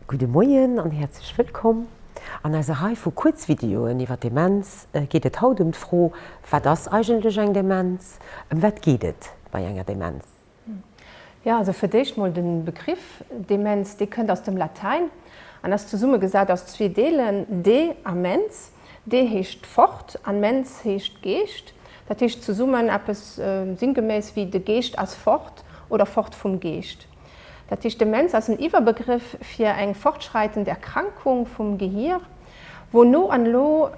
Gudde Moien an häerzlech wëllkomm! An eiser Rei vu Kuerzvideoen iwwer Demenz geet et haut ëm d'Fro, Wat ass eigentlech eng Demenz? Ëm wat geet et bei enger Demenz? Jo, also fir d'éischt mol de Begriff Demenz, dee kënnt aus dem Latäin an ass zesummegesat aus zwee Deelen, de a mens. De heescht fort an mens heescht Geescht. Dat heescht zesummen eppes sinngeméiss ewéi de Geescht ass fort oder fort vum Geescht. Dat heescht, Demenz ass en Iwwerbegrëff fir eng fortschreitend Erkrankung vum Gehir, wou no an lo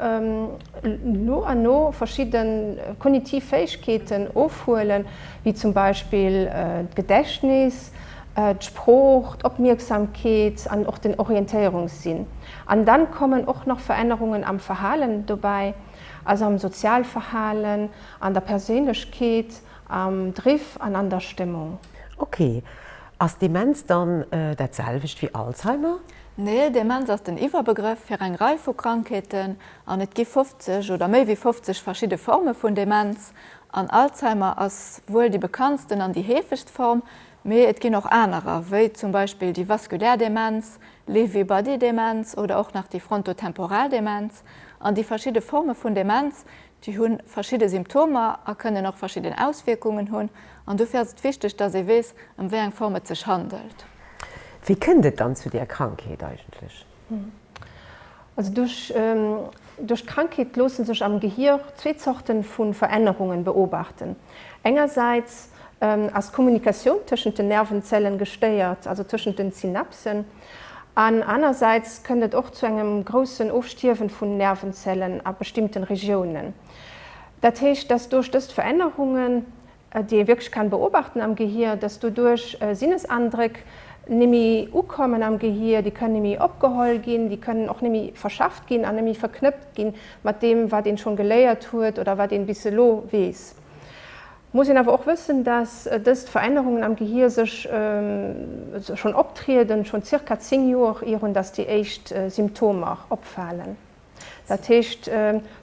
no an no verschidde kognitiv Fäegkeeten ofhuelen, wéi zum Beispill d'Gedächtnis, d'Sprooch, d'Opmierksamkeet an och den Orientéierungssinn. An da kommen och nach Verännerungen am Verhalen dobäi, also am Sozialverhalen, an der Perséinlechkeet, am Driff an an der Stëmmung. Ok, ass Demenz dann dat selwecht wéi Alzheimer? Nee, Demenz ass den Iwwerbegrëff fir eng Rei vu Krankheeten, an et gi 50 oder méi wéi 50 verschidde Forme vun Demenz, an Alzheimer ass wuel déi bekanntsten an déi heefegst Form, mee et ginn och anerer, wéi zum Beispill déi vaskulär Demenz, Lewy Body Demenz oder och nach déi frontotemporal Demenz. An déi verschidde Forme vun Demenz Déi hu verschidde Symptomer a kënnen och verschidden Auswierkungen hunn an dofir ass et wichteg, dass ee weess, ëm wéi eng Form et sech handelt. Wéi kënnt et dann zu der Krankheet eigentlech? Also duerch d'Krankheet loosse sech am Gehier zwee Zorte vu Verännerunge beobachten. Engersäits ass d'Kommunikatioun tëschent den Nervenzellen gestéiert, also tëschent den Synapsen. An anersäits kënnt et och zu engem groussen Ofstierwen vun Nervenzellen a bestimmten Regiounen. Dat heescht, dass duerch dëst Verännerungen, déi ee wierklech kann beobachten am Gehir, dass doduerch Sinnesandréck némmi ukommen am Gehir, déi kënnen némmi opgeholl ginn, déi kënnen och némmi verschafft ginn an némmi verknëppt ginn mat deem wat een schonn geléiert huet oder wat een bis elo weess. Muss een awer och wëssen, dass dëst Verännerungen am Gehir sech schonn optrieden, schonn zirka 10 Joer ier un dass déi éischt Symptomer opfalen. Dat heescht,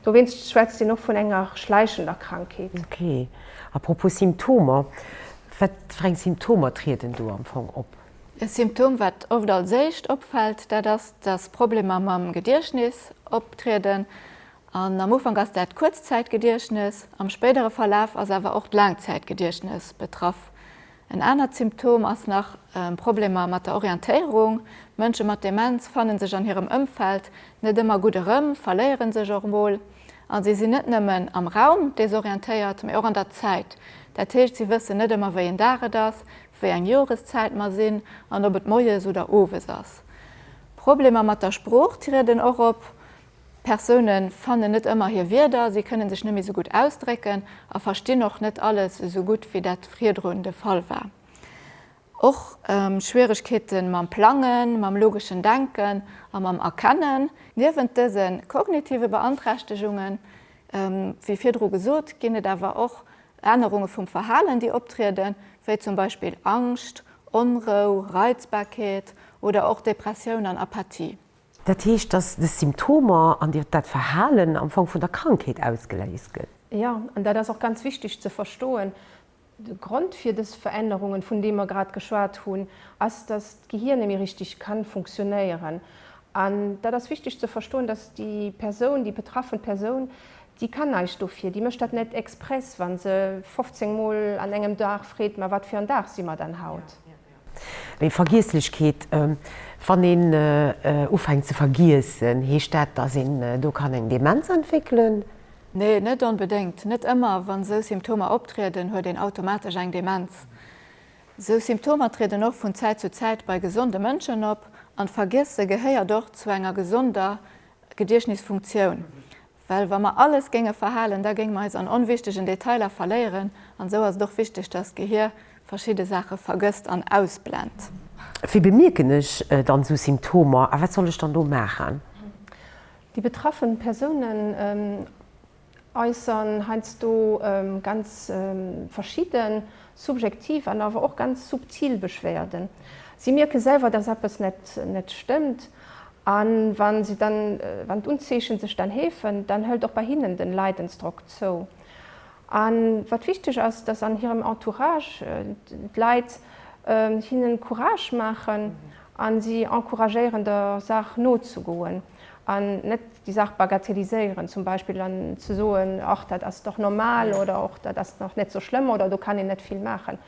dowéinst schwätzt een och vun enger schläichender Krankheet. Ok. A propos Symptomer, wat fir eng Symptomer trieden do am Fong op? E Symptom, wat oft als éischt opfält, dat ass, dass Problemer mam Gediechtnis optrieden. An am Ufank ass dat Kuerzzäitgediechtnes, am spéidere Verlaf ass awer och d'Laangzäitgediechtnes betraff. En anert Symptom ass nach Problemer mat der Orientéierung. Mënsche mat Demenz fanne sech an hirem Ëmfeld net ëmmer gutt erëm, verléiere sech och mol. A si sinn net nëmmen am Raum desorientéiert, mee och an der Zäit. Dat heescht, si wëssen net ëmmer, wéi een Dag et ass, wéi eng Joreszäit mer sinn an ob et moies oder owes ass. Problemer mat der Sprooch trieden och op. Persoune fannen net ëmmer hir Wierder, si kënne sech net méi esou gutt ausdrécken a verstinn och net alles esou gutt, wéi dat virdrun de Fall war. Och Schwieregkeete mam Plangen, mam logeschen Denken a mam Erkennen. Niewent dëse kognitive Beanträchtegungen, wéi virdru gesot, ginn et awer och Ännerunge vum Verhalen, déi optrieden, wéi zum Beispill Angscht, Onrou, Reizbarkeet oder och Depressioun an Apathie. Dat heescht, dass des Symptomer an dir dat Verhalen am Fong vun der Krankheet ausgeléist gëtt. Jo, an dat ass och ganz wichteg ze verstoen. De Grond fir des Verännerungen, vun deem mer grad geschwat hunn, ass, dass d'Gehir net méi richteg ka funktionéieren. An dat ass wichteg ze verstoen, dass déi Persoun, déi betraffen Persoun, déi kann näischt dofir. Déi mécht dat net express, wa se 15 Mol an engem Dag freet, Ma wat fir en Dag si mer dann haut? Mee Vergiesslechkeet, wann een ufänkt ze vergiessen, heescht dat, dass een do kann eng Demenz entwéckelen? Nee, net onbedéngt. Net ëmmer, wann esou Symptomer optrieden, huet een automatesch eng Demenz. Esou Symptomer trieden och vun Zäit zu Zäit bei gesonde Mënschen op, an d'Vergiesse gehéiert och zu enger gesonder Gediechtnisfunktioun. Well wa mer alles géinge verhalen, da géinge mer eis an onwichtegen Detailer verléieren, an esou ass et och wichteg, dass d'Gehier verschidde Saache vergësst an ausblend. Wéi bemierken ech dann esou Symptomer a wat soll ech dann do maachen? Déi betraffen Persounen äussern heiansdo ganz verschidden subjektiv an awer och ganz subtil Beschwerden. Si mierke selwer, dass eppes net stëmmt. A wa si dann, wann d'Unzeeche sech dann heefen, dann hëlt och bei hinnen de Leidensdrock zou. A wat wichteg ass, dass an hirem Entourage d'Leit hinne Courage maachen a si encouragéieren, der Saach nozegoen. An net déi Saach bagatelliséieren, zum Beispill an ze soen, ach dat ass dach normal oder och dat ass dach net esou schlëmm oder do kann een net vill maachen.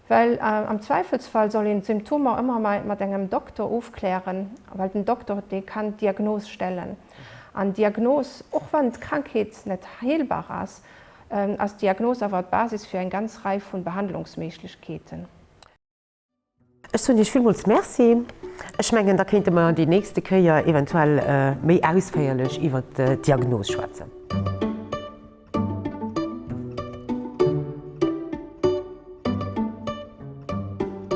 Well am Zweifelsfall soll een d'Symptomer ëmmer mat engem Dokter ofklären, well den Dokter dee kann d'Diagnos stellen. An d'Diagnos, och wann d'Krankheet net heelbar ass, ass d'Diagnos awer d'Basis fir eng ganz Rei vu Behandlungsméiglechkeeten. Ech soen Iech villmools Merci. Ech mengen, da kéinte mer déi nächste Kéier eventuell méi ausféierlech iwwert d'Diagnos schwätzen.